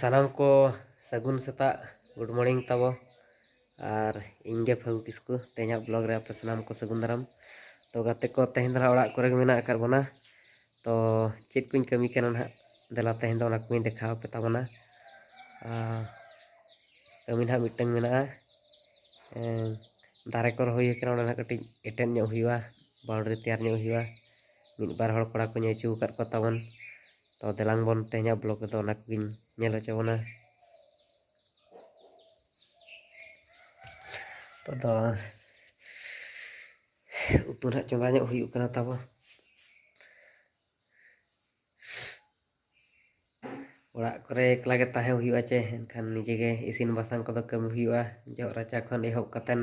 ᱥᱟᱱᱟᱢ ᱠᱚ ᱥᱟᱹᱜᱩᱱ ᱥᱮᱛᱟᱜ ᱜᱩᱰ ᱢᱚᱨᱱᱤᱝ ᱛᱟᱵᱚ ᱟᱨ ᱤᱧᱜᱮ ᱯᱷᱟᱹᱜᱩ ᱠᱤᱥᱠᱩ ᱛᱮᱦᱮᱧᱟᱜ ᱵᱞᱚᱜ ᱨᱮ ᱟᱯᱮ ᱥᱟᱱᱟᱢ ᱠᱚ ᱥᱟᱹᱜᱩᱱ ᱫᱟᱨᱟᱢ ᱛᱚ ᱜᱟᱛᱮ ᱠᱚ ᱛᱮᱦᱮᱧ ᱫᱚ ᱚᱲᱟᱜ ᱠᱚᱨᱮ ᱜᱮ ᱢᱮᱱᱟᱜ ᱟᱠᱟᱫ ᱵᱚᱱᱟ ᱛᱚ ᱪᱮᱫ ᱠᱚᱧ ᱠᱟᱹᱢᱤ ᱠᱟᱱᱟ ᱱᱟᱦᱟᱜ ᱫᱮᱞᱟ ᱛᱮᱦᱮᱧ ᱫᱚ ᱚᱱᱟ ᱠᱚᱧ ᱫᱮᱠᱷᱟᱣ ᱟᱯᱮ ᱛᱟᱵᱚᱱᱟ ᱠᱟᱹᱢᱤ ᱱᱟᱦᱟᱜ ᱢᱤᱫᱴᱟᱝ ᱢᱮᱱᱟᱜᱼᱟ ᱫᱟᱨᱮ ᱠᱚ ᱨᱚᱦᱚᱭ ᱠᱟᱱᱟ ᱚᱱᱟ ᱱᱟᱦᱟᱜ ᱠᱟᱹᱴᱤᱡ ᱮᱴᱮᱫ ᱧᱚᱜ ᱦᱩᱭᱩᱜᱼᱟ ᱵᱟᱣᱩᱱᱰᱨᱤ ᱛᱮᱭᱟᱨ ᱧᱚᱜ ᱦᱩᱭᱩᱜᱼᱟ ᱢᱤᱫ ᱵᱟᱨ ᱦᱚᱲ ᱠᱚᱲᱟ ᱠᱚᱧ ᱟᱹᱪᱩ ᱟᱠᱟᱫ ᱠᱚ ᱛᱟᱵᱚᱱ ᱛᱚ ᱫᱮᱞᱟᱝ ᱵᱚᱱ ᱛᱮᱦᱮᱧᱟᱜ ᱵᱞᱚᱜᱽ ᱨᱮᱫᱚ ᱚᱱᱟ ᱠᱚᱜᱮᱧ ᱧᱮᱞ ᱦᱚᱪᱚ ᱵᱚᱱᱟ ᱱᱤᱛᱚᱜ ᱫᱚ ᱩᱛᱩ ᱱᱟᱦᱟᱜ ᱪᱚᱸᱫᱟ ᱧᱚᱜ ᱦᱩᱭᱩᱜ ᱠᱟᱱᱟ ᱛᱟᱵᱚ ᱚᱲᱟᱜ ᱠᱚᱨᱮ ᱮᱠᱞᱟ ᱜᱮ ᱛᱟᱦᱮᱸ ᱦᱩᱭᱩᱜᱼᱟ ᱪᱮ ᱮᱱᱠᱷᱟᱱ ᱱᱤᱡᱮ ᱜᱮ ᱤᱥᱤᱱ ᱵᱟᱥᱟᱝ ᱠᱚᱫᱚ ᱠᱟᱹᱢᱤ ᱦᱩᱭᱩᱜᱼᱟ ᱡᱚᱜ ᱨᱟᱪᱟ ᱠᱷᱚᱱ ᱮᱦᱚᱵ ᱠᱟᱛᱮᱫ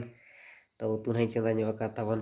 ᱛᱚ ᱩᱛᱩ ᱱᱟᱦᱟᱜ ᱤᱧ ᱪᱚᱸᱫᱟ ᱧᱚᱜ ᱟᱠᱟᱫ ᱛᱟᱵᱚᱱ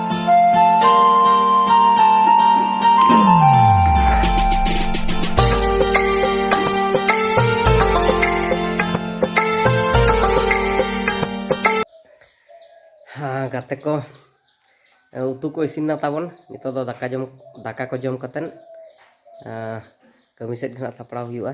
ᱜᱟᱛᱮ ᱠᱚ ᱩᱛᱩ ᱠᱚ ᱤᱥᱤᱱᱟ ᱛᱟᱵᱚᱱ ᱱᱤᱛᱚᱜ ᱫᱚ ᱫᱟᱠᱟ ᱡᱚᱢ ᱫᱟᱠᱟ ᱠᱚ ᱡᱚᱢ ᱠᱟᱛᱮᱫ ᱠᱟᱹᱢᱤ ᱥᱮᱫ ᱜᱮ ᱦᱟᱸᱜ ᱥᱟᱯᱲᱟᱣ ᱦᱩᱭᱩᱜᱼᱟ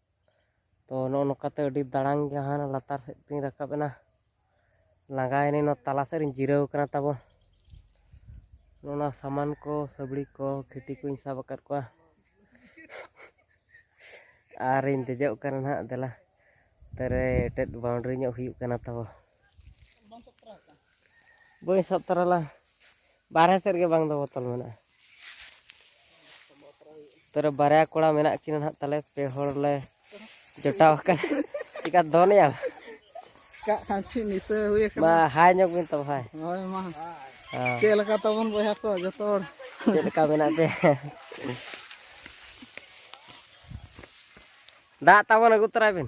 ᱛᱚ ᱱᱚᱜᱼᱚ ᱱᱚᱝᱠᱟᱛᱮ ᱟᱹᱰᱤ ᱫᱟᱲᱟᱝ ᱜᱮ ᱦᱟᱱᱟ ᱞᱟᱛᱟᱨ ᱥᱮᱫ ᱛᱤᱧ ᱨᱟᱠᱟᱵ ᱮᱱᱟ ᱞᱟᱸᱜᱟᱭᱮᱱᱟ ᱱᱚᱣᱟ ᱛᱟᱞᱟ ᱥᱮᱫ ᱨᱤᱧ ᱡᱤᱨᱟᱹᱣ ᱠᱟᱱᱟ ᱛᱟᱵᱚ ᱱᱚᱣᱟ ᱥᱟᱢᱟᱱ ᱠᱚ ᱥᱟᱹᱵᱲᱤ ᱠᱚ ᱠᱷᱤᱴᱤ ᱠᱚᱧ ᱥᱟᱵ ᱟᱠᱟᱫ ᱠᱚᱣᱟ ᱟᱨᱤᱧ ᱫᱮᱡᱚᱜ ᱠᱟᱱᱟ ᱱᱟᱦᱟᱜ ᱫᱮᱞᱟ ᱛᱟᱨᱮ ᱮᱴᱮᱫ ᱵᱟᱣᱩᱱᱰᱨᱤ ᱧᱚᱜ ᱦᱩᱭᱩᱜ ᱠᱟᱱᱟ ᱛᱟᱵᱚ ᱵᱟᱹᱧ ᱥᱟᱵ ᱛᱟᱨᱟ ᱞᱟᱝ ᱵᱟᱨᱦᱮ ᱥᱮᱫ ᱨᱮᱜᱮ ᱵᱟᱝ ᱫᱚ ᱵᱚᱛᱚᱞ ᱢᱮᱱᱟᱜᱼᱟ ᱛᱚᱨᱮ ᱵᱟᱨᱭᱟ ᱠᱚᱲᱟ ᱢᱮᱱᱟᱜ ᱠᱤᱱᱟ ᱱᱟᱦᱟᱜ ᱛᱟᱞᱮ ᱯᱮ ᱦᱚᱲ ᱞᱮ ᱡᱚᱴᱟᱣ ᱟᱠᱟᱱᱟ ᱪᱮᱠᱟ ᱫᱚᱱᱮᱭᱟ ᱠᱟᱜ ᱠᱷᱟᱱ ᱪᱮᱫ ᱱᱤᱥᱟᱹ ᱦᱩᱭ ᱟᱠᱟᱱᱟ ᱢᱟ ᱦᱟᱭ ᱧᱚᱜ ᱵᱤᱱ ᱛᱚ ᱵᱷᱟᱭ ᱦᱳᱭ ᱢᱟ ᱪᱮᱫ ᱞᱮᱠᱟ ᱛᱟᱵᱚᱱ ᱵᱚᱭᱦᱟ ᱠᱚ ᱡᱚᱛᱚ ᱦᱚᱲ ᱪᱮᱫ ᱞᱮᱠᱟ ᱢᱮᱱᱟᱜ ᱯᱮ ᱫᱟᱜ ᱛᱟᱵᱚᱱ ᱟᱹᱜᱩ ᱛᱚᱨᱟᱭ ᱵᱤᱱ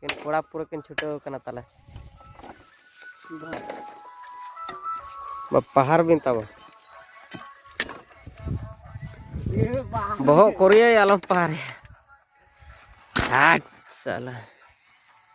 ᱠᱤᱱ ᱠᱚᱲᱟ ᱯᱩᱨᱟᱹ ᱠᱤᱱ ᱪᱷᱩᱴᱟᱹᱣ ᱠᱟᱱᱟ ᱛᱟᱞᱮ ᱯᱟᱦᱟᱨ ᱵᱤᱱ ᱛᱟᱵᱚ ᱵᱚᱦᱚᱜ ᱠᱚᱨᱮᱭᱟᱭ ᱟᱞᱚᱢ ᱯᱟᱦᱟᱨᱮᱭᱟ ᱟᱴ ᱥᱟᱞᱟ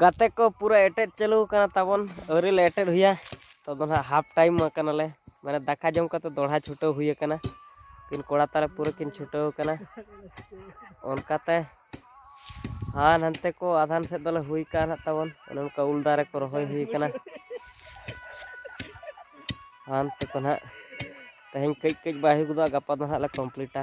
ᱜᱟᱛᱮ ᱠᱚ ᱯᱩᱨᱟᱹ ᱮᱴᱮᱫ ᱪᱟᱹᱞᱩ ᱟᱠᱟᱱᱟ ᱛᱟᱵᱚᱱ ᱟᱹᱣᱨᱤ ᱞᱮ ᱮᱴᱮᱫ ᱦᱩᱭᱟ ᱛᱚ ᱫᱚ ᱱᱟᱦᱟᱜ ᱦᱟᱯ ᱴᱟᱭᱤᱢ ᱟᱠᱟᱱᱟᱞᱮ ᱢᱟᱱᱮ ᱫᱟᱠᱟ ᱡᱚᱢ ᱠᱟᱛᱮ ᱫᱚᱲᱦᱟ ᱪᱷᱩᱴᱟᱹᱣ ᱦᱩᱭ ᱟᱠᱟᱱᱟ ᱠᱤᱱ ᱠᱚᱲᱟ ᱛᱟᱞᱮ ᱯᱩᱨᱟᱹ ᱠᱤᱱ ᱪᱷᱩᱴᱟᱹᱣ ᱟᱠᱟᱱᱟ ᱚᱱᱠᱟᱛᱮ ᱦᱟᱱ ᱦᱟᱱᱛᱮ ᱠᱚ ᱟᱫᱷᱟᱱ ᱥᱮᱫ ᱫᱚᱞᱮ ᱦᱩᱭ ᱠᱟᱱ ᱦᱟᱸᱜ ᱛᱟᱵᱚᱱ ᱚᱱᱮ ᱚᱱᱠᱟ ᱩᱞ ᱫᱟᱨᱮ ᱠᱚ ᱨᱚᱦᱚᱭ ᱦᱩᱭ ᱟᱠᱟᱱᱟ ᱦᱟᱱᱛᱮ ᱠᱚ ᱱᱟᱦᱟᱜ ᱛᱮᱦᱮᱧ ᱠᱟᱹᱡ ᱠᱟᱹᱡ ᱵᱟᱭ ᱦᱩᱭ ᱜᱚᱫᱚᱜᱼᱟ ᱜᱟᱯᱟ ᱫᱚ ᱱᱟᱦᱟᱜ ᱞᱮ ᱠᱚᱢᱯᱞᱤᱴᱟ